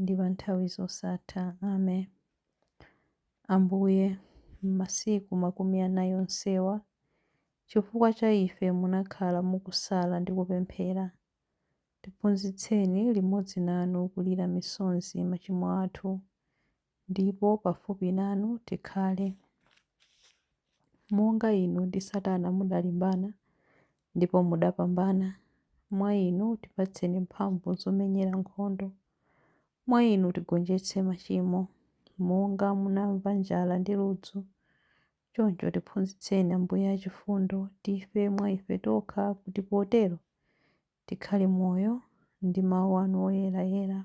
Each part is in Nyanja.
ndi pa nthawi zosatha. Amen. Ambuye, m'masiku makumi anai onsewa, chifukwa cha ife munakhala mukusala ndi kupemphera. Tiphunzitseni limodzi nanu kulira misonzi machimo athu, ndipo pafupi nanu tikhale. Monga Inu ndi Satana mudalimbana, ndipo mudapambana. Mwa Inu tipatseni mphamvu zomenyera nkhondo. Mwa Inu tigonjetse machimo. Monga munamva njala ndi ludzu, choncho tiphunzitseni Ambuye achifundo, tife mwa ife tokha kuti potero tikhale moyo ndi Mawu anu oyera-yera.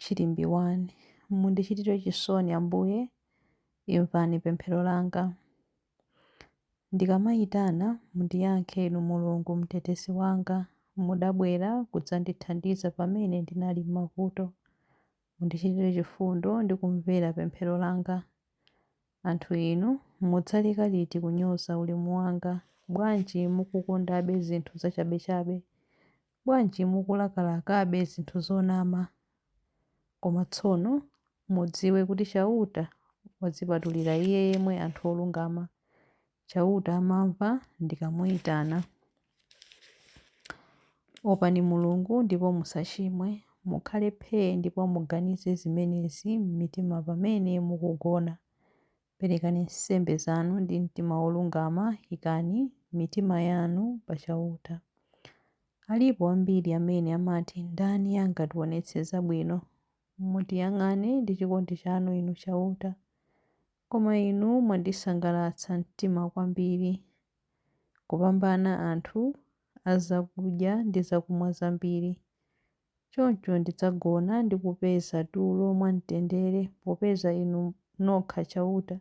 Chilimbi 1. Mundichitire chisoni, Ambuye, imvani pemphero langa. Ndikamayitana, mundiyankhe Inu Mulungu Mtetezi wanga, mudabwera kudzandithandiza pamene ndinali m'mavuto. Mundichitire chifundo ndi kumvera pemphero langa. Anthu inu, mudzaleka liti kunyoza ulemu wanga? Bwanji mukukondabe zinthu zachabechabe? Bwanji mukulakalakabe zinthu zonama? Koma tsono mudziwe kuti Chauta wadzipatulira Iye yemwe anthu olungama. Chauta amamva ndikamuitana. Opani Mulungu ndipo musachimwe. Mukhale phee ndipo muganize zimenezi m'mitima pamene mukugona. Perekani nsembe zanu ndi mtima wolungama, ikani mitima yanu pa Chauta. Alipo ambiri amene amati, Ndani angatiwonetse zabwino? Mutiyang'ane ndi chikondi chanu, Inu Chauta. Koma Inu mwandisangalatsa mtima kwambiri, kupambana anthu a zakudya ndi zakumwa zambiri, Choncho ndidzagona ndi kupeza tulo mwamtendere, popeza Inu nokha Chauta,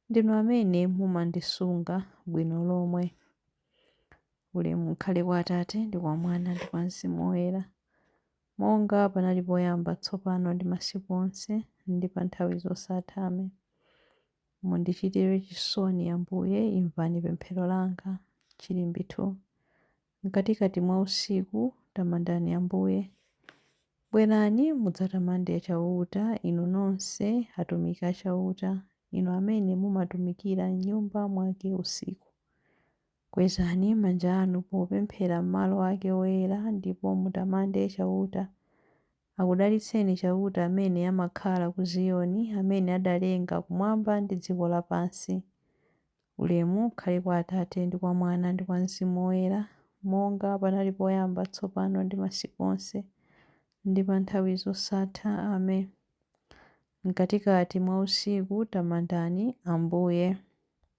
ndinu amene mumandisunga bwino lomwe. Ulemu ukhale kwa Atate, ndi kwa Mwana, ndi kwa Mzimu Woyera, monga panali poyamba, tsopano ndi masiku onse, ndi pa nthawi zosatha. Amen. Mundichitire chisoni, Ambuye, imvani pemphero langa. Chilimbi 2. Mkatikati mwa usiku tamandani Ambuye. Bwerani, mudzatamande Chauta, inu nonse atumiki a Chauta, inu amene mumatumikira m'Nyumba mwake usiku. Kwezani manja anu popemphera m'malo ake oyera, ndipo mutamande Chauta Akudalitseni Chauta amene amakhala ku Ziyoni, amene adalenga kumwamba ndi dziko lapansi. Ulemu ukhale kwa Atate, ndi kwa Mwana, ndi kwa Mzimu Woyera, monga panali poyamba, tsopano ndi masiku onse, ndi pa nthawi zosatha. Amen. Mkatikati mwa usiku tamandani Ambuye.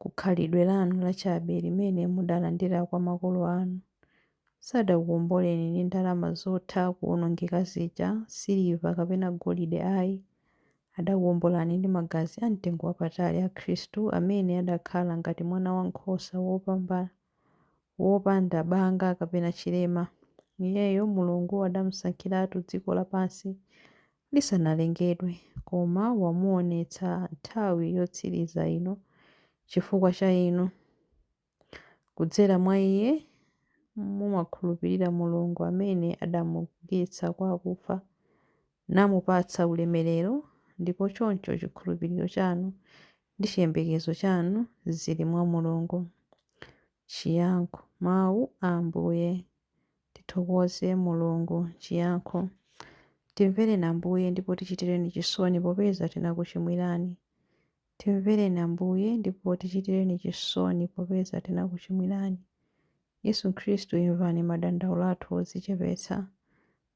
ku khalidwe lanu lachabe limene mudalandira kwa makolo anu. Sadakuwomboleni ndi ndalama zotha kuwonongeka zija, siliva kapena golide ai. Adakuwombolani ndi magazi a mtengo wapatali a Khristu amene adakhala ngati mwanawankhosa wopanda banga kapena chilema. Iyeyo Mulungu adamsankhiratu dziko lapansi lisanalengedwe, koma wamuonetsa nthawi yotsiriza ino chifukwa cha inu. Kudzera mwa Iye mumakhulupirira Mulungu amene adamuukitsa kwa akufa, namupatsa ulemerero, ndipo choncho chikhulupiriro chanu ndi chiyembekezo chanu zili mwa Mulungu. Chiyankho, Mawu a Ambuye. Tithokoze Mulungu, chiyankho. Timvereni Ambuye ndipo tichitireni chisoni popeza tinakuchimwirani. Timvereni Ambuye ndipo tichitireni chisoni popeza tinakuchimwirani. Yesu Khristu imvani madandaulo athu odzichepetsa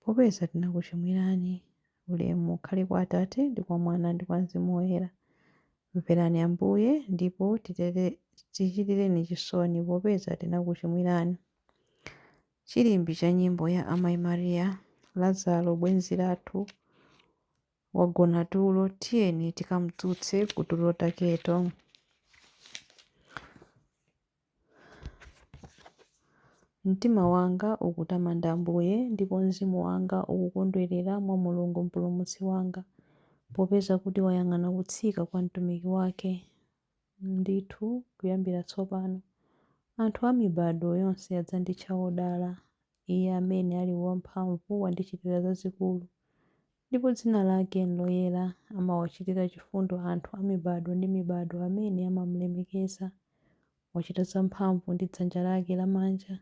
popeza tinakuchimwirani. Ulemu ukhale kwa Atate ndi kwa Mwana ndi kwa Mzimu Woyera. Mverani Ambuye ndipo tichitireni chisoni popeza tinakuchimwirani. Chilimbi cha nyimbo ya Amai Maria, Lazaro bwenzi lathu, wagona tulo, tiyeni tikamdzutse kutulo taketo. Mtima wanga ukutamanda Ambuye, ndipo mzimu wanga ukukondwerera mwa Mulungu Mpulumutsi wanga, popeza kuti wayang'ana kutsika kwa mtumiki wake. Ndithu kuyambira tsopano, anthu a mibado yonse adzanditcha wodala. Iye amene ali wamphamvu wandichitira zazikulu, ndipo dzina lake n'loyera. Amawachitira chifundo anthu a mibado ndi mibado amene amamulemekeza. Wachita zamphamvu ndi dzanja lake lamanja.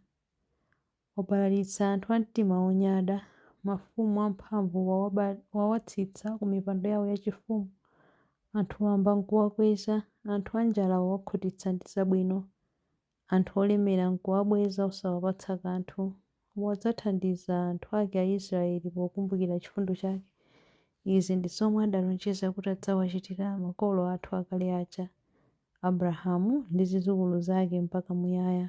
Wabalalitsa anthu a mtima wonyada, mafumu amphamvu wawatsitsa ku mipando yao yachifumu. Anthu wamba nkuwakweza, anthu anjala wawakhutitsa ndi zabwino, anthu olemera nkuwabweza osawapatsa kanthu. Wadzathandiza anthu ake Aisraeli pokumbukira chifundo chake. Izi ndi zomwe adalonjeza kuti adzawachitira makolo athu akale aja, Abrahamu ndi zidzukulu zake mpaka muyaya.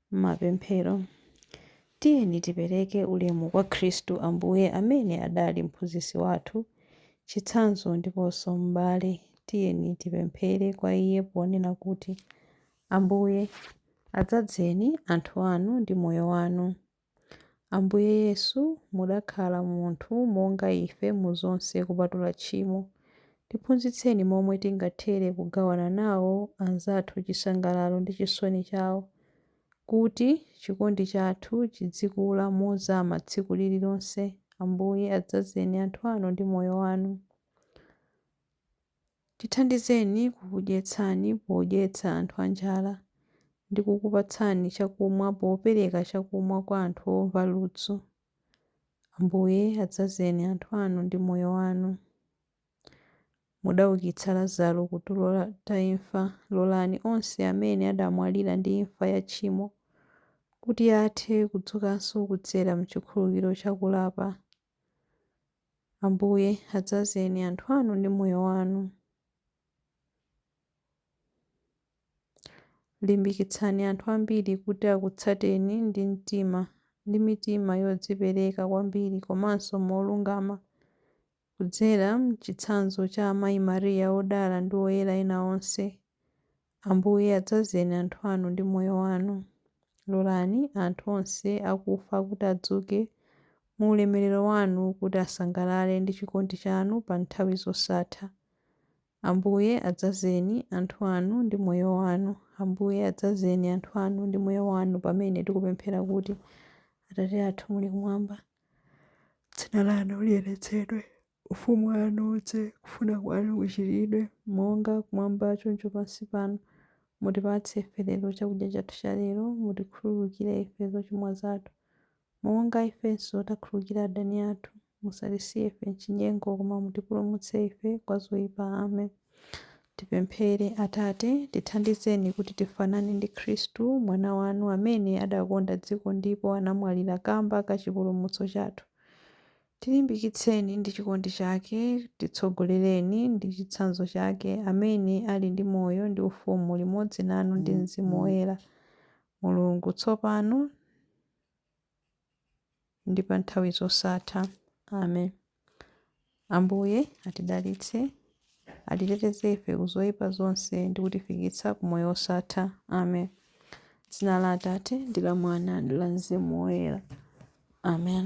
M'mapemphero, tiyeni tipereke ulemu kwa Khristu Ambuye amene adali mphunzitsi wathu, chitsanzo ndiponso m'bale. Tiyeni tipemphere kwa Iye ponena kuti, Ambuye, adzadzeni anthu anu ndi moyo wanu. Ambuye Yesu, mudakhala munthu monga ife mu zonse kupatula tchimo. Tiphunzitseni momwe tingathere kugawana nawo anzathu chisangalalo ndi chisoni chawo, kuti chikondi chathu chidzikula mozama tsiku lililonse. Ambuye, adzazeni anthu anu ndi moyo wanu. Tithandizeni kukudyetsani podyetsa anthu anjala, ndi kukupatsani chakumwa popereka chakumwa kwa anthu omva ludzu. Ambuye, adzazeni anthu anu ndi moyo wanu. Mudaukitsa Lazaro ku tulo la ta imfa, lolani onse amene adamwalira ndi imfa ya tchimo kuti athe kudzukanso kudzera m'chikhululukiro cha kulapa. Ambuye, adzazeni anthu anu ndi moyo wanu. Limbikitsani anthu ambiri kuti akutsateni ndi mtima ndi mitima yodzipereka kwambiri komanso molungama kudzera m'chitsanzo cha Amayi Maria Odala ndi oyera ena onse Ambuye, adzazeni anthu anu ndi Moyo Wanu. Lolani anthu onse akufa kuti adzuke mu ulemerero Wanu kuti asangalale ndi chikondi Chanu pa nthawi zosatha. Ambuye, adzazeni anthu anu ndi Moyo Wanu. Ambuye, adzazeni anthu anu ndi Moyo Wanu pamene tikupemphera kuti, Atate athu muli kumwamba, Dzina lanu liyeretsedwe. Ufumu wanu udze, kufuna kwanu kuchitidwe, monga kumwamba choncho pansi pano. Mutipatse ife lero chakudya chathu cha lero, mutikhululukire ife zochimwa zathu, monga ifenso takhululukira adani athu, musatisiye ife m'chinyengo koma mutipulumutse ife kwa zoipa. Amen. Tipemphere. Atate, tithandizeni kuti tifanane ndi Khristu, Mwana wanu, amene adakonda dziko ndipo anamwalira kamba ka chipulumutso chathu. Tilimbikitseni ndi chikondi chake, titsogolereni ndi chitsanzo chake, amene ali ndi moyo ndi ufumu limodzi nanu ndi Mzimu Woyera, Mulungu, tsopano ndi pa nthawi zosatha. Amen. Ambuye atidalitse. Atiteteze ife ku zoipa zonse ndi kutifikitsa ku moyo wosatha. Amen. Dzina la Atate ndi la Mwana ndi la Mzimu Woyera. Amen.